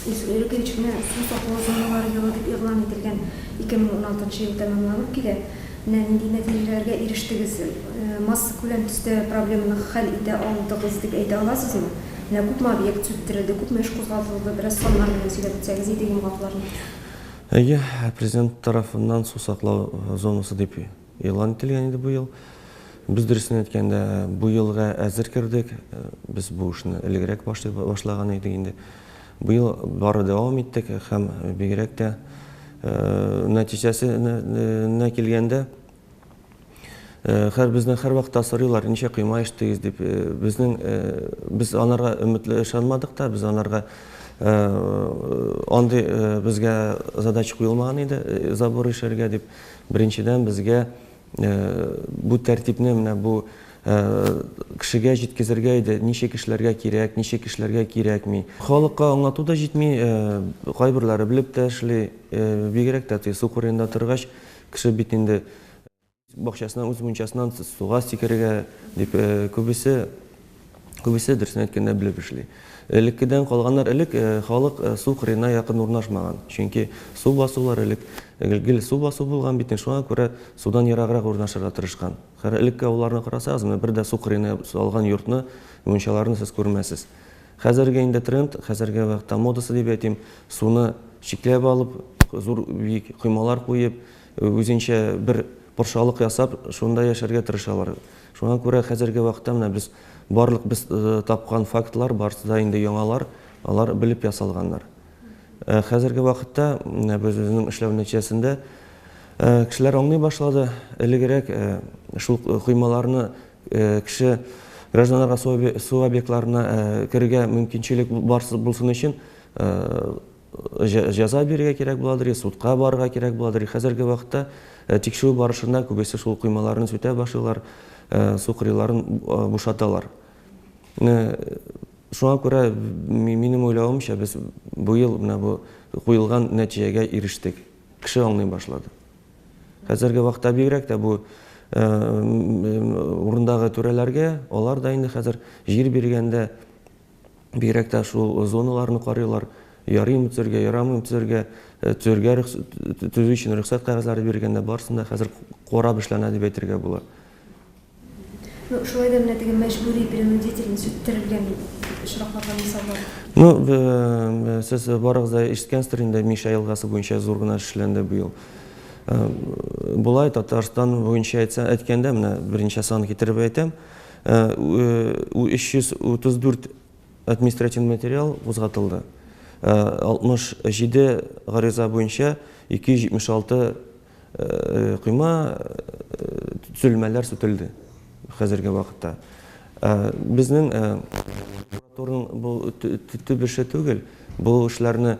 Өлкә эченә су саклау зоналары елы дип игълан ителгән 2016 ел тәмамланып килә. Менә нинди нәтиҗәләргә ирештегез? Массакүләм төстә проблеманы хәл итә алдыгыз дип әйтә аласызмы? Менә күпме объект сүттерелде, күпме эш кузгатылды? Бераз саннар белән сөйләп үтсәгез иде йомгакларны. Әйе, Президент тарафыннан су саклау зонасы дип Игълан ителгән иде бу ел. Без, дөресен әйткәндә, бу елга әзер кердек. Без бу эшне элегрәк башлый башлаган идек инде. Быел бары дәвам иттек һәм бигрәк тә нәтиҗәсенә килгәндә, хәр безне һәрвакытта сорыйлар, ничә койма эчтегез дип. Безнең без анарга өметле ышанмадык та, без анарга андый безгә задача куелмаган иде, забор ишәргә дип. Беренчедән, безгә бу тәртипне менә бу кешегә җиткезергә иде, ничек эшләргә кирәк, ничек эшләргә кирәкми. Халыкка аңлату да җитми, кайберләре белеп тә эшли, бигрәк тә теге су кырыенда торгач, кеше бит инде үз бакчасыннан, үз мунчасыннан суга сикерергә дип күбесе, Күбесе, дөресен әйткәндә, белеп эшли. Элеккедән калганнар элек халык су кырыена якын урнашмаган. Чөнки су басулар элек гел су басу булган бит инде, шуңа күрә судан ераграк урнашырга тырышкан. Хәер, элекке авылларны карасагыз, менә бер дә су кырыена салган йортны, мунчаларны сез күрмәссез. Хәзерге инде тренд, хәзерге вакытта модасы дип әйтим, суны чикләп алып, зур биек коймалар куеп, үзенчә бер патшалык ясап, шунда яшәргә тырышалар. Шуңа күрә хәзерге вакытта менә без барлык без тапкан фактлар барысы да инде яңалар, алар белеп ясалганнар. Хәзерге вакытта менә без үзенең эшләү нәтиҗәсендә кешеләр аңлый башлады. Элегрәк шул коймаларны кеше гражданнарга су объектларына керергә мөмкинчелек барсы булсын өчен Җәза бирергә кирәк буладыр, я судка барырга кирәк буладыр. Хәзерге вакытта тикшерү барышында күбесе шул коймаларны сүтә башлыйлар, су кырыйларын бушаталар. Шуңа күрә, минем уйлавымча, без быел менә бу куелган нәтиҗәгә ирештек. Кеше аңлый башлады. Хәзерге вакытта бигрәк тә бу урындагы түрәләргә, алар да инде хәзер җир биргәндә, Бигрәк тә шул зоналарны карыйлар, ярыймы төзергә, ярамыймы төзергә, э, төзергә төзү өчен рөхсәт кәгазьләре биргәндә барысын да хәзер карап эшләнә дип әйтергә була. Ну, шулай да менә теге мәҗбүри принудительный сүттерелгән очракларда мисаллар. Ну, э, сез барыгыз да ишеткәнсездер инде Миша елгасы буенча зур гына эшләнде быел. Э, болай Татарстан буенча әйтсә, әйткәндә менә беренче сан китереп әйтәм. 334 административ материал кузгатылды, 67 гариза буенча 276 койма, төзелмәләр сүтелде хәзерге вакытта. Безнең прокуратураның бу төп эше түгел, бу эшләрне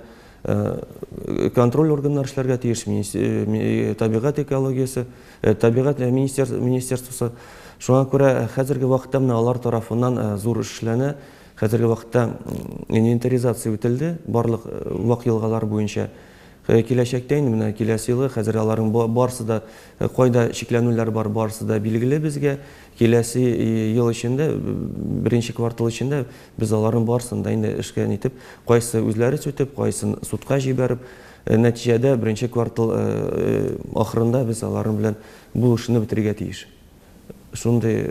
Контроль органнары эшләргә тиеш, табигать экологиясе, табигать министерствосы. Шуңа күрә хәзерге вакытта менә алар тарафыннан зур эш эшләнә. Хәзерге вакытта инвентаризация үтелде барлык вак елгалар буенча. Киләчәктә инде менә киләсе елга хәзер аларның барысы да кайда чикләнүләр бар, барысы да билгеле безгә. Киләсе ел эчендә, беренче квартал эчендә Без аларның барысын да инде эшкә нитеп, кайсы үзләре сүтеп, кайсын судка җибәреп, нәтиҗәдә беренче квартал ахырында без аларның белән бу эшне бетерергә тиеш. Шундый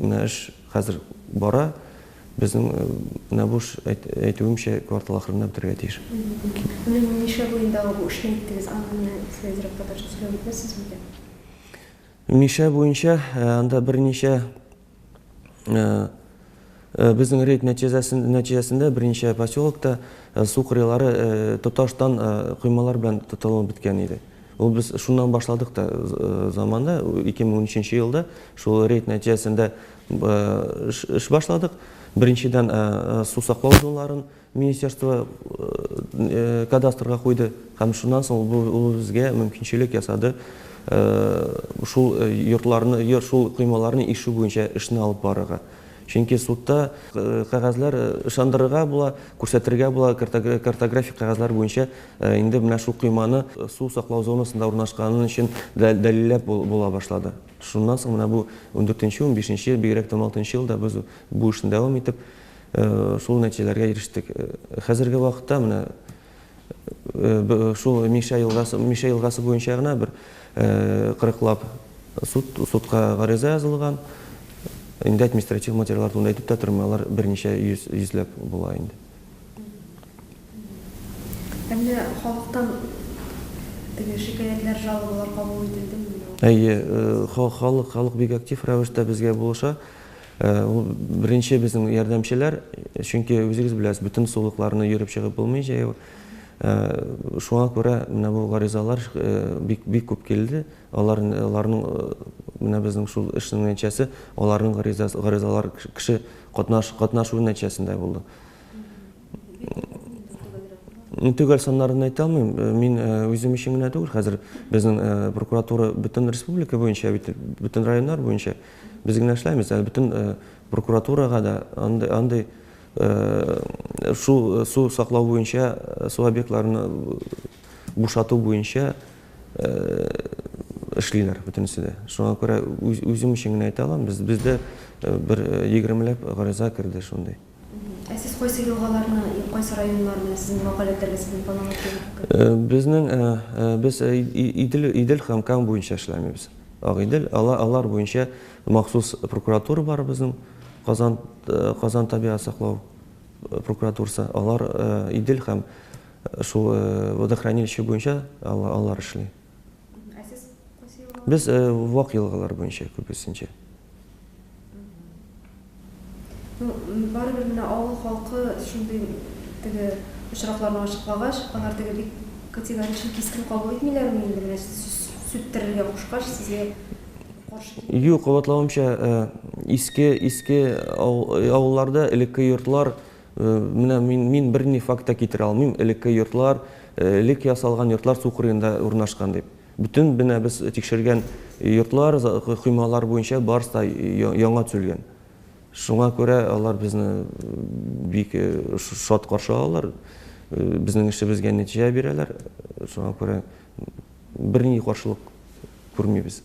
менә эш хәзер бара. Безнең менә бу эш, әйтүемчә, квартал ахырында бетерергә тиеш. Менә нинди нишләп уендагы бу эшне иттегез, аны менә Фәйзрәп татарча сөйләп үтәсез микән? Мишә буенча анда берничә Безнең рейд нәтиҗәсендә берничә поселокта су кырыйлары тоташтан коймалар белән тотылып беткән иде. Ул без шуннан башладык та заманы, 2013 елда шул рейд нәтиҗәсендә эш башладык. Беренчедән, су саклау зоналарын Министерство кадастрга куйды һәм шуннан соң ул безгә мөмкинчелек ясады шул йортларны, шул коймаларны ишу буенча эшне алып барырга. Чөнки судта кәгазьләр ышандырырга була, күрсәтергә була, картографик кәгазьләр буенча инде менә шул койманы су саклау зонасында урнашканы өчен дәлилләп була башлады. Шуннан соң менә бу ундүртенче, унбишенче, бигрәк тә уналтынчы елда без бу эшне дәвам итеп, Шул нәтиҗәләргә ирештек. Хәзерге вакытта менә шул Мишә елгасы, Мишә елгасы буенча гына бер кырыклап суд, судка гариза язылган. Инде административ материаллар турында әйтеп тә тормыйм, алар берничә йөз, йөзләп була инде. Ә менә халыктан теге шикаятьләр, жалобалар кабул ителдеме? Әйе, халык, халык бик актив рәвештә безгә булыша. Ул беренче безнең ярдәмчеләр, чөнки үзегез беләсез, бөтен сулыкларны йөреп чыгып булмый җәяү. Шуңа күрә менә бу гаризалар бик бик күп килде. Алар аларның менә безнең шул эшнең нәтиҗәсе, аларның гаризасы гаризалар кеше катнаш катнашуы нәтиҗәсендә булды. Төгәл саннарын әйтә алмыйм. Мин үзем өчен генә түгел, хәзер безнең прокуратура бөтен республика буенча бит, бөтен районнар буенча. Без генә эшләмибез, әле бөтен прокуратурага да андый, андый су, су саклау буенча, су объектларын бушату буенча эшлиләр бөтенесе дә. Шуңа күрә үзем өчен генә әйтә алам, без, бездә бер егермеләп гариза керде шундый. Ә сез кайсы елгаларны, кайсы районнарны сезнең вәкаләтләргә сезнең полномочиягез күрсәтә? Безнең, без Идел, Идел һәм Кама буенча эшләмибез. Агыйдел, алар, алар буенча махсус прокуратура бар безнең, Казан, Казан табигать саклау прокуратурасы. Алар Идел һәм шул водохранилище буенча алар эшли. Ә сез кайсы елга? Без э, вак елгалар буенча күбесенчә. Ну, барыбер менә авыл халкы шундый теге очракларны ачыклагач, алар теге бик категоричен кискен кабул итмиләрме инде менә сүттерергә кушкач сезгә каршы килми? Юк, кабатлавымча, э, иске иске ау- авылларда элекке йортлар Менә мин, мин берни факт та китерә алмыйм, элекке йортлар, элек ясалган йортлар су кырыенда урнашкан дип. Бөтен менә без тикшергән йортлар, коймалар буенча барысы да яңа төзелгән. Шуңа күрә алар безне бик шат каршы алалар, безнең эшебезгә нәтиҗә бирәләр. Шуңа күрә берни каршылык күрмибез.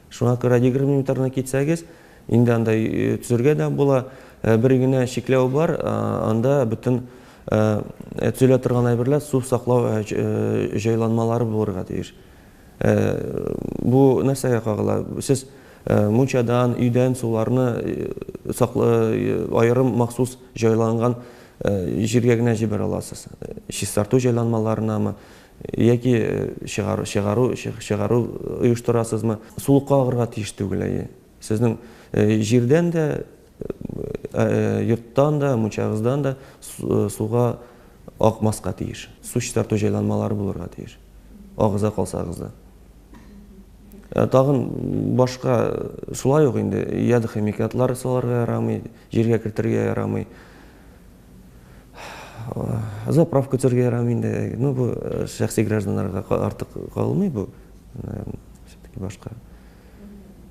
Шуңа күрә егерме метрны китсәгез, инде анда төзергә дә була. Бер генә чикләү бар, анда бөтен төзелә торган әйберләр су саклау җайланмалары булырга тиеш. Бу нәрсәгә кагыла? Сез мунчадан, өйдән суларны аерым махсус җайланган җиргә генә җибәрә аласыз. Чистарту җайланмаларынамы, Яки чыгару, чыгару, чыгару оештырасызмы? Сулыкка агырга тиеш түгел, әйе. Сезнең җирдән дә, йорттан да, мунчагыздан да суга акмаска тиеш. Су чистарту җайланмалары булырга тиеш, агыза калсагыз да. Тагын башка шулай ук инде ядохимикатлар салырга ярамый, җиргә кертергә ярамый. Заправ көтәргә ярамый инде. Ну, бу э, шәхси гражданнарга артык калмый бу. Э, Все-таки башка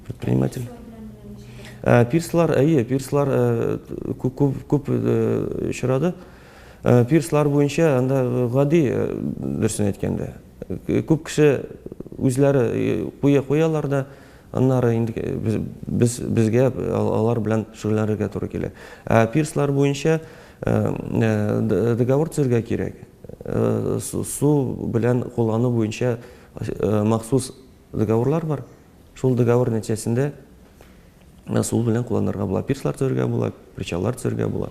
предприниматель. Э, пирслар, әйе, пирслар күп, күп, күп очрады. Пирслар буенча анда гади дөресен әйткәндә. Күп кеше үзләре куя куялар да Аннары инде без, безгә алар белән шөгыльләнергә туры килә. Ә пирслар буенча договор төзергә кирәк. Су белән куллану буенча махсус договорлар бар. Шул договор нәтиҗәсендә су белән кулланырга була. Пирслар төзергә була, причаллар төзергә була.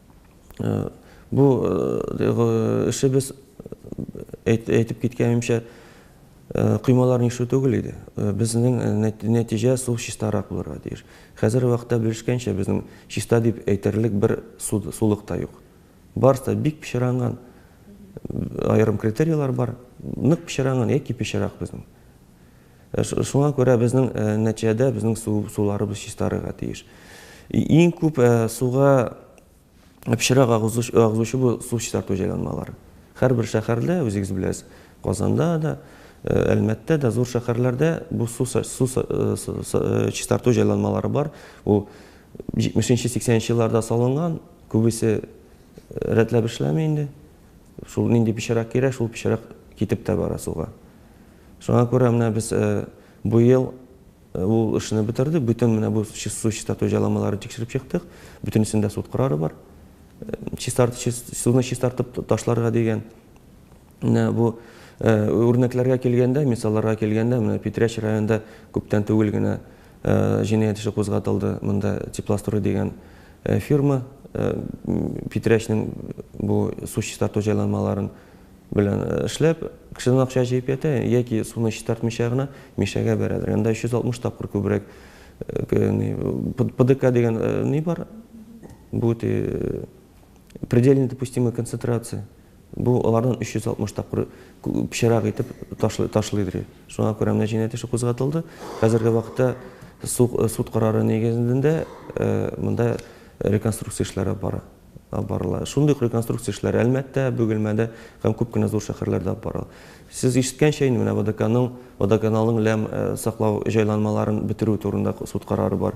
Бу эшебез, әйтеп киткәнемчә, коймалар нишу түгел иде. Безнең нәтиҗә су чистарак булырга тиеш. Хәзерге вакытта белешкәнчә, безнең чиста дип әйтерлек бер сулык та юк. Барысы да бик пычранган. Аерым критерийлар бар. Нык пычранган яки пычрак безнең. Шуңа күрә безнең нәтиҗәдә безнең су суларыбыз чистарырга тиеш. Иң күп суга пычрак агызучы бу су чистарту җайланмалары. Һәрбер шәһәрдә, үзегез беләсез, Казанда да, Әлмәттә дә, зур шәһәрләрдә бу су чистарту җайланмалары бар. Ул 70 нче, 80 нче елларда салынган, күбесе рәтләп эшләми инде. Шул нинди пычрак кирәк, шул пычрак китеп тә бара суга. Шуңа күрә менә без бу ел ул эшне бетердек, бөтен менә бу су чистарту җайламаларын тикшереп чыктык, бөтенесендә суд карары бар. Чистарт, чист, суны чистартып ташларга дигән. Менә бу үрнәкләргә килгәндә, мисалларга килгәндә, менә Питрәч районында күптән түгел генә җинаять эше кузгатылды. Монда Теплострой дигән фирма Питрәчнең бу су чистарту җайламаларын Белән эшләп, кешедән акча җыеп ята, яки суны чистартмыйча гына Мишәгә бәрәдер. Анда 360 тапкыр күбрәк ПДК дигән ни бар, бу ти предельно допустимая концентрация. Бу алардан 360 тапкыр пычрак итеп ташлыйдыр. Шуңа күрә менә җинаять эше кузгатылды. Хәзерге вакытта суд карары нигезендә монда реконструкция эшләре бара. да барыла. Шундый ук реконструкция эшләре Әлмәттә, Бөгелмәдә һәм күп кенә зур шәһәрләрдә алып барыла. Сез ишеткәнчә инде, менә ВДКның, водоканалның ләм саклау җайланмаларын бетерү турында суд карары бар.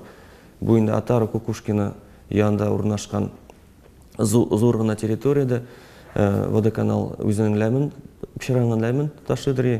Бу инде Отара, Кукушкино янында урнашкан зур гына территориядә водоканал үзенең ләмен, пычранган ләмен ташыйдыр и.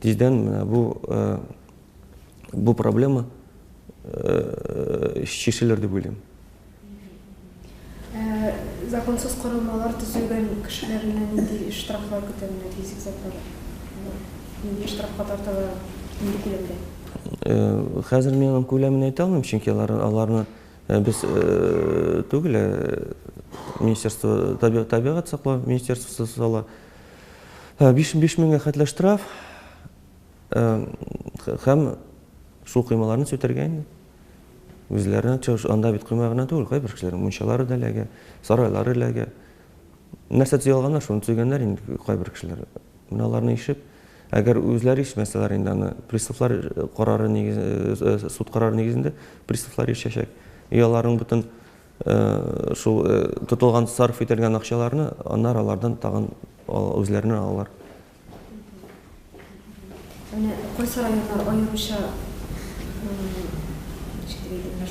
Тиздән менә бу бу проблема чишелер дип уйлыйм. Законсыз корылмалар төзегән кешеләрне нинди штрафлар көтә, менә физик затлар нинди штрафка тартыла, нинди күләмдә? Хәзер мин аның күләмен әйтә алмыйм, чөнки алар аларны без түгел, министерство табигать саклау министерствосы сала, Биш меңгә хәтле штраф һәм су коймаларын сүтәргә инде. Үзләренә чыгыш, анда бит койма гына түгел, кайбер кешеләр мунчалары да эләгә, сарайлары эләгә. Нәрсә төзи алганнар, шуны төзегәннәр инде кайбер кешеләр. Менә аларны ишеп, әгәр үзләре ишмәсәләр инде аны, приставлар карары нигезендә, суд карары нигезендә приставлар ишәчәк. И аларның бөтен Шул тотылган, сарыф ителгән акчаларны аннары алардан тагын үзләренә алалар. Менә кайсы районнар аеруча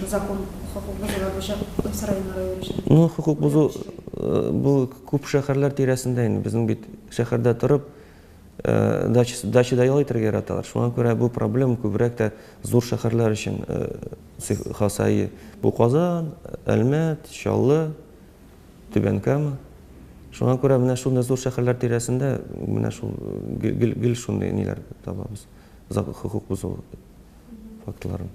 закон хокук бозулар буенча кайсы районнар аеруча? Ну, хокук бозу бу күп шәһәрләр тирәсендә инде. Безнең бит шәһәрдә торып, Дачада ял итәргә яраталар. Шуңа күрә бу проблема күбрәк тә зур шәһәрләр өчен хас. Әйе, бу Казан, Әлмәт, Чаллы, Түбән Кама. Шуңа күрә менә шундый зур шәһәрләр тирәсендә менә шул гел шундый ниләр табабыз, хокук бозу фактларын.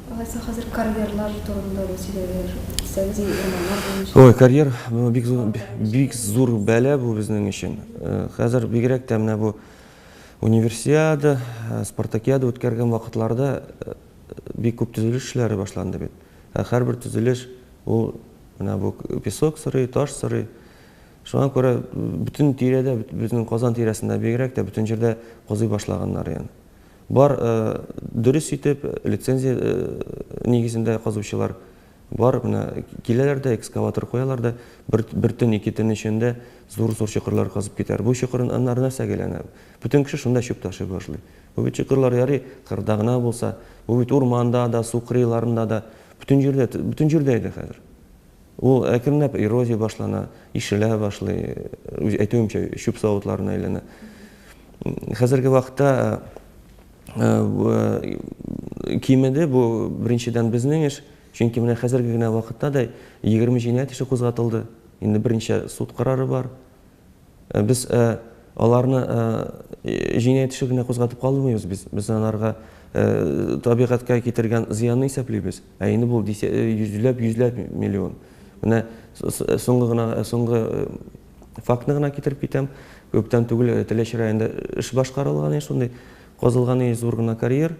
Алайса хәзер карьерлар турында да сөйләгәләр. Исәгез инде урманнар буенча. Ой, карьер бу бик зур бик зур бәла бу безнең өчен. Хәзер бигрәк тә менә бу универсиада, спартакиада үткәргән вакытларда бик күп төзелеш эшләре башланды бит. Ә һәрбер төзелеш ул менә бу песок сорый, таш сорый. Шуңа күрә бөтен тирәдә, безнең Казан тирәсендә бигрәк тә бөтен җирдә казый башлаганнар янә. Бар, дөрес итеп, лицензия нигезендә казучылар бар. Менә киләләр дә, экскаватор куялар да, бер, бер төн, ике төн эчендә зур-зур чокырлар казып китәләр. Бу чокырнар нәрсәгә әйләнә? Бөтен кеше шунда чүп ташый башлый. Бу бит чокырлар ярый кырда гына булса, бу бит урманда да, су кырыйларында да, бөтен җирдә, бөтен җирдә иде хәзер. Ул әкренләп эрозия башлана, ишелә башлый, үз әйтүемчә, чүп савытларына әйләнә. Хәзерге вакытта кимеде бу, беренчедән, безнең эш, чөнки менә хәзерге генә вакытта да 20 җинаять эше кузгатылды, инде берничә суд карары бар. Без аларны җинаять эше генә кузгатып калмыйбыз бит, без аларга табигатькә китергән зыянны исәплибез. Ә инде бу йөзләп, йөзләп миллион. Менә соңгы гына, соңгы фактны гына китереп китәм. Күптән түгел Теләче районында эш башкарылган иде шундый, казылган иде зур гына карьер.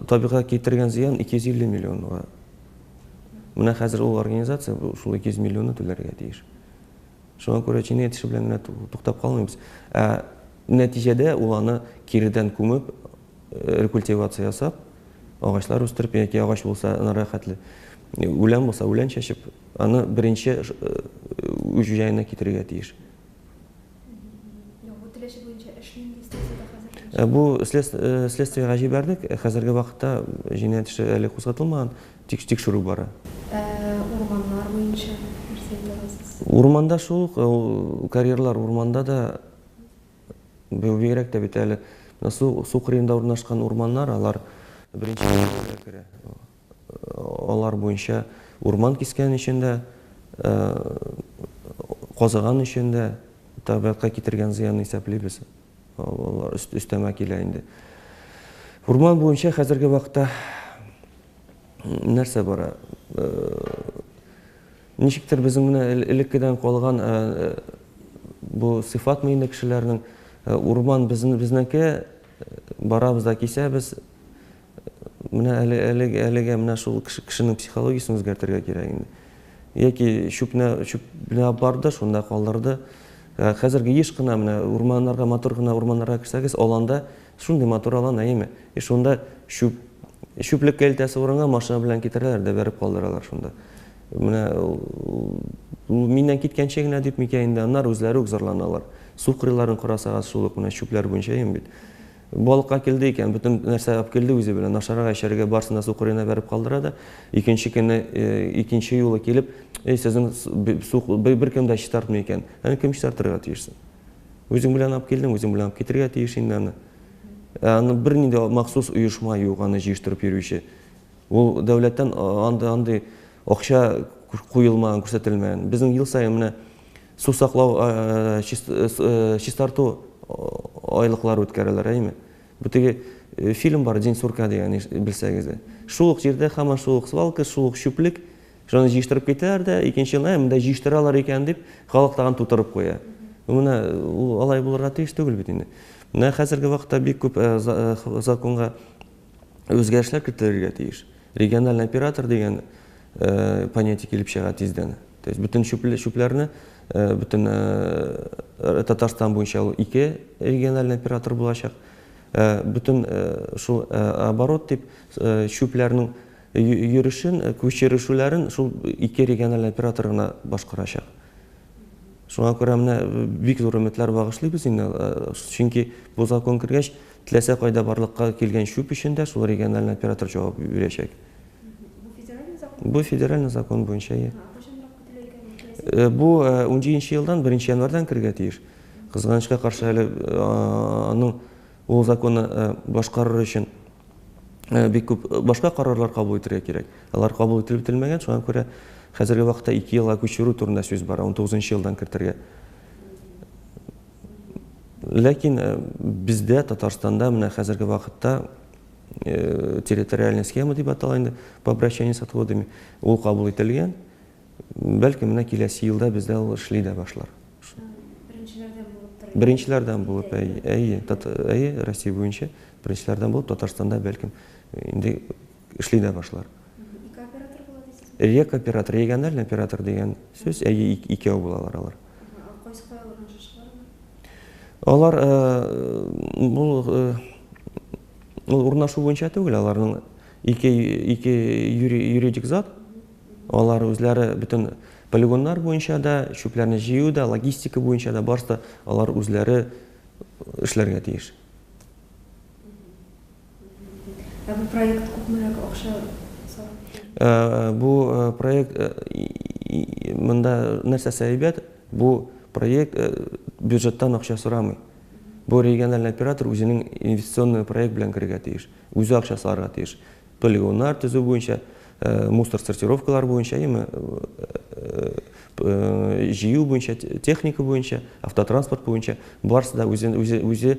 Табигатька китергән зыян 250 миллионга. Менә хәзер ул организация шул 200 миллионны түләргә тиеш. Шуңа күрә җинаять эше белән генә туктап калмыйбыз. Ә нәтиҗәдә ул аны киредән күмеп, рекультивация ясап, агачлар үстереп, яки агач булса, анарга хәтле үлән булса, үлән чәчеп, аны беренче үз җаена китерергә тиеш. Яңгыр теләче буенча эш нинди стадиядә хәзер? Бу следствиегә җибәрдек. Хәзерге вакытта җинаять эше әле кузгатылмаган, тик тикшерү бара. Ә урманнар буенча нәрсә әйтә аласыз? Урманда шул ук, ул карьерлар урманда да, бу бигрәк тә бит әле су кырыенда урнашкан урманнар, алар беренче категориягә керә. алар буенча урман кискән өчен дә, казыган өчен дә табигатькә китергән зыянны исәплибез. Алар өстәмә килә инде. Урман буенча хәзерге вакытта нәрсә бара? Ничектер безнең менә элеккедән калган бу сыйфатмы инде кешеләрнең, урман безнеке, барабыз да кисәбез. Менә әле, әле, әлегә менә шул кеше, кешенең психологиясен үзгәртергә кирәк инде. Яки чүпне, чүпне алып барды, шунда калдырды. Ә Хәзерге еш кына менә урманнарга, матур гына урманнарга керсәгез, аланда шундый матур алан, әйеме? И шунда чүп, чүплеккә илтәсе урынга машина белән китерәләр дә бәреп калдыралар шунда. Менә ул- ул миннән киткәнче генә дип микән инде, аннары үзләре үк зарланалар. Су кырыйларын карасагыз, шул ук менә чүпләр буенча, әйеме бит? Балыкка килде икән, бөтен нәрсә алып килде үзе белән, ашарга, эчәргә, барысын да су кырыена бәреп калдыра да, икенче көнне, икенче юлы килеп, Эй, сезнең су беркем дә чистартмый икән, аны кем чистартырга тиеш соң? Үзең белән алып килдең, үзең белән алып китергә тиеш инде аны. Ә аны бернинди махсус оешма юк, аны җыештырып йөрүче. Ул дәүләттән андый Акча куелмаган, күрсәтелмәгән. Безнең ел саен менә су саклау, чистарту айлыклары үткәрәләр, әйеме? Бу теге фильм бар, День сурка дигән, белсәгез. Шул ук җирдә һаман шул ук свалка, шул ук чүплек. Шуны җыештырып китәләр дә, икенче елны, ә монда җыештыралар икән дип, халык тагын тутырып куя. Менә ул алай булырга тиеш түгел бит инде. Менә хәзерге вакытта бик күп законга үзгәрешләр кертелергә тиеш. Региональный оператор дигән э, понятие килеп чыга тиздән. То есть бөтен чүпләрне э, бөтен э, Татарстан буенча ул ике региональный оператор булачак. Э, бөтен э, шул э, оборот дип э, чүпләрнең йөрүшен, э, күчерешүләрен шул ике региональный оператор гына башкарачак. Шуңа күрә менә э, бик зур өметләр багышлыйбыз инде, э, чөнки бу закон кергәч, Теләсә кайда барлыкка килгән чүп өчен дә шул региональный оператор җавап бирәчәк. Бу федеральный закон? Бу федеральный закон буенча, ие. Кайчанрак көтелә икән бу киләсе? Бу унҗиенче елдан беренче январьдан керергә тиеш. Кызганычка каршы, әле аның ул законны башкарыр өчен бик күп башка карарлар кабул итергә кирәк. Алар кабул ителеп бетелмәгән, шуңа күрә хәзерге вакытта ике елга күчерү турында сүз бара, унтугызынчы елдан кертергә. Ләкин э, бездә Татарстанда менә хәзерге вакытта э, территориальная схема дип атала инде по обращению с отводами ул кабул ителгән. Бәлки менә киләсе елда бездә ул эшли дә башлар. Беренчеләрдән булып, әйе, әйе, әйе, Россия буенча беренчеләрдән булып Татарстанда бәлкем инде эшли дә башлар. Ике оператор була дисезме? Рек оператор, региональный оператор дигән сүз, әйе, икәү булалар алар. Кайсы кайлардан шашалар алар? Алар бу урнашу буенча түгел, аларның ике ике юридик зат. Алар үзләре бөтен полигоннар буенча да, чүпләрне җыю да, логистика буенча да барсы да алар үзләре эшләргә тиеш. Ә бу проект күпмерәк акча сорап? Бу проект монда нәрсәсе әйбәт, бу проект бюджеттан акча сорамый. Бу региональный оператор үзенең инвестиционный проект белән керергә тиеш, үзе акча салырга тиеш. Полигоннар төзү буенча, мусор сортировкалар буенча, яме җыю буенча, техника буенча, автотранспорт буенча барысы да үзе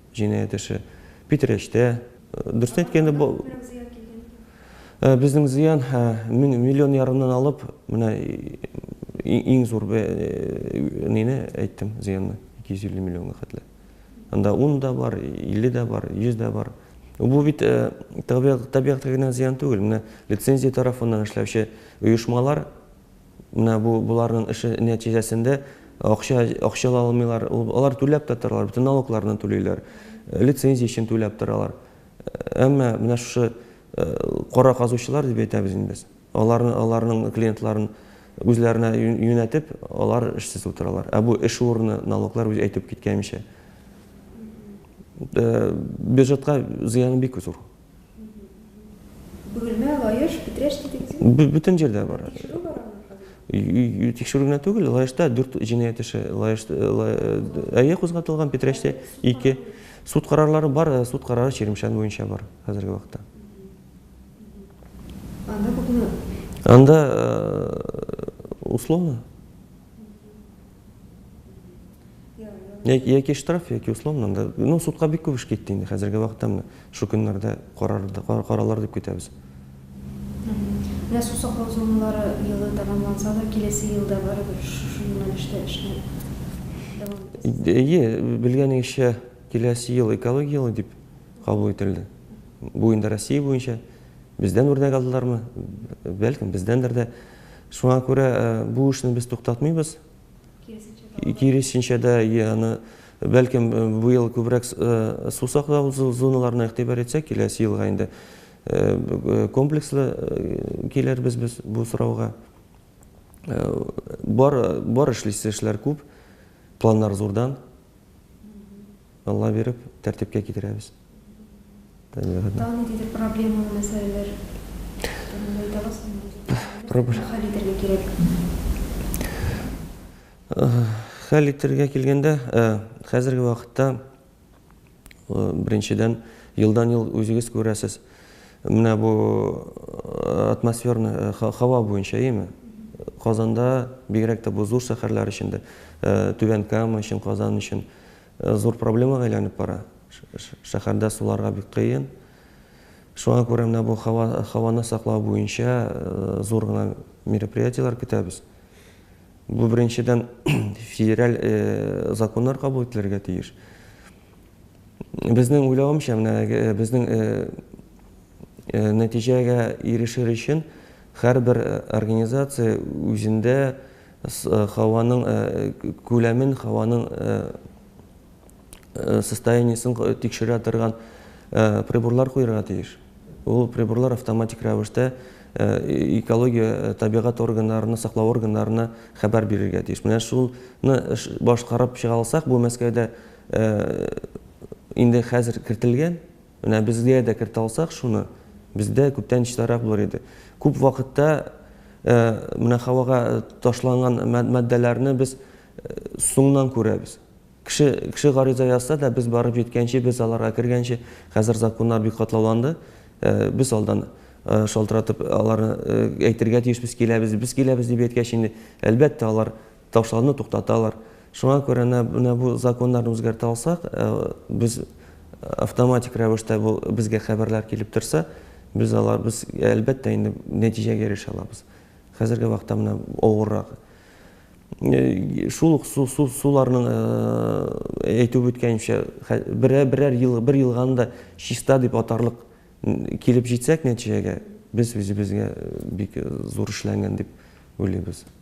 җинаять эше. Питрәчтә, дөресен әйткәндә, бу безнең зыян миллион ярымнан алып, менә иң зур нене әйттем, зыянны, 250 миллионга хәтле. Анда 10 да бар, 50 дә бар, 100 дә бар. Бу бит табигатька генә зыян түгел. Менә лицензия тарафыннан эшләүче оешмалар Менә бу боларның эше нәтиҗәсендә акча акча ала алмыйлар. Алар түләп тә торалар, бөтен налогларны түлиләр. Лицензия өчен түләп торалар. Әмма менә шушы кара казучылар дип әйтәбез инде без. Аларны аларның клиентларын үзләренә юнәтеп, алар эшсез утыралар. Ә бу эш урыны, налоглар үз әйтеп киткәнчә. Бюджетка зыяны бик зур. Бөгелмә, Лаеш, Питрәч детектив. Бөтен җирдә бар. Тикшерү бар аны. Тикшерү генә түгел, Лаешта дүрт җинаять эше, Лаеш әйе кузгатылган, Питрәчтә ике. Суд карарлары бар, суд карары Чирмешән буенча бар хәзерге вакытта. Анда күпме? Анда условно. Яки штраф, яки условно. Ну, судка бик күп эш китте инде. Хәзерге вакытта менә шу көннәрдә карарлар дип көтәбез. Менә су саклау зоналары елы тәмамланса да, киләсе елда барыбер шушы юнәлештә эшне дәвам итәсез. Әйе, белгәнегезчә, киләсе ел экология елы дип кабул ителде. Бу инде Россия буенча. Бездән үрнәк алдылармы? Бәлкем, бездәндер дә. Шуңа күрә бу эшне без туктатмыйбыз. Киресенчә дә, аны, бәлкем, бу ел күбрәк су саклау зоналарына игътибар итсәк, киләсе елга инде комплекслы килербез без бу сорауга. Бар, бар эшлисе эшләр күп, планнар зурдан. Алла биреп, тәртипкә китерәбез. Табигатьне. Тагын ниндидер проблемалы мәсьәләләр турында әйтәбез. Проблем. Хәл итәргә кирәк. Хәл итәргә килгәндә, хәзерге вакытта, беренчедән, елдан-ел үзегез күрәсез, Менә бу атмосферный һава буенча, яме? Казанда, бигрәк тә бу зур шәһәрләр өчен дә, Түбән Кама өчен, Казан өчен зур проблемага әйләнеп бара. Шәһәрдә суларга бик кыен. Шуңа күрә менә бу һава, һаваны саклау буенча зур гына мероприятиеләр көтәбез. Бу, беренчедән, федераль законнар кабул ителергә тиеш. Безнең уйлавымча, менә безнең нәтиҗәгә ирешер өчен һәрбер организация үзендә һаваның күләмен, һаваның состояниесен тикшерә торган приборлар куярга тиеш. Ул приборлар автоматик рәвештә экология, табигать органнарына, саклау органнарына хәбәр бирергә тиеш. Менә шуны башкарып чыга алсак, бу Мәскәүдә Инде хәзер кертелгән. Менә безгә дә кертә алсак шуны, бездә күптән чистарак булыр иде. Күп вакытта менә һавага ташланган матдәләрне без соңнан күрәбез. Кеше, кеше гариза язса да, без барып җиткәнче, без аларга кергәнче, хәзер законнар бик катлауланды, без алдан шалтыратып аларны әйтергә тиешбез, киләбез, без киләбез дип әйткәч инде, әлбәттә, алар Тавышларны туктаталар. Шуңа күрә менә бу законнарны үзгәртә алсак, без автоматик рәвештә бу безгә хәбәрләр килеп торса, без алар без әлбәттә инде нәтиҗәгә ирешә алабыз. Хәзерге вакытта менә авыррак. Шул ук су су суларның әйтеп үткәнчә, берәр берәр ел бер елга анда чиста дип атарлык килеп җитсәк нәтиҗәгә, без үзебезгә бик зур эшләнгән дип уйлыйбыз.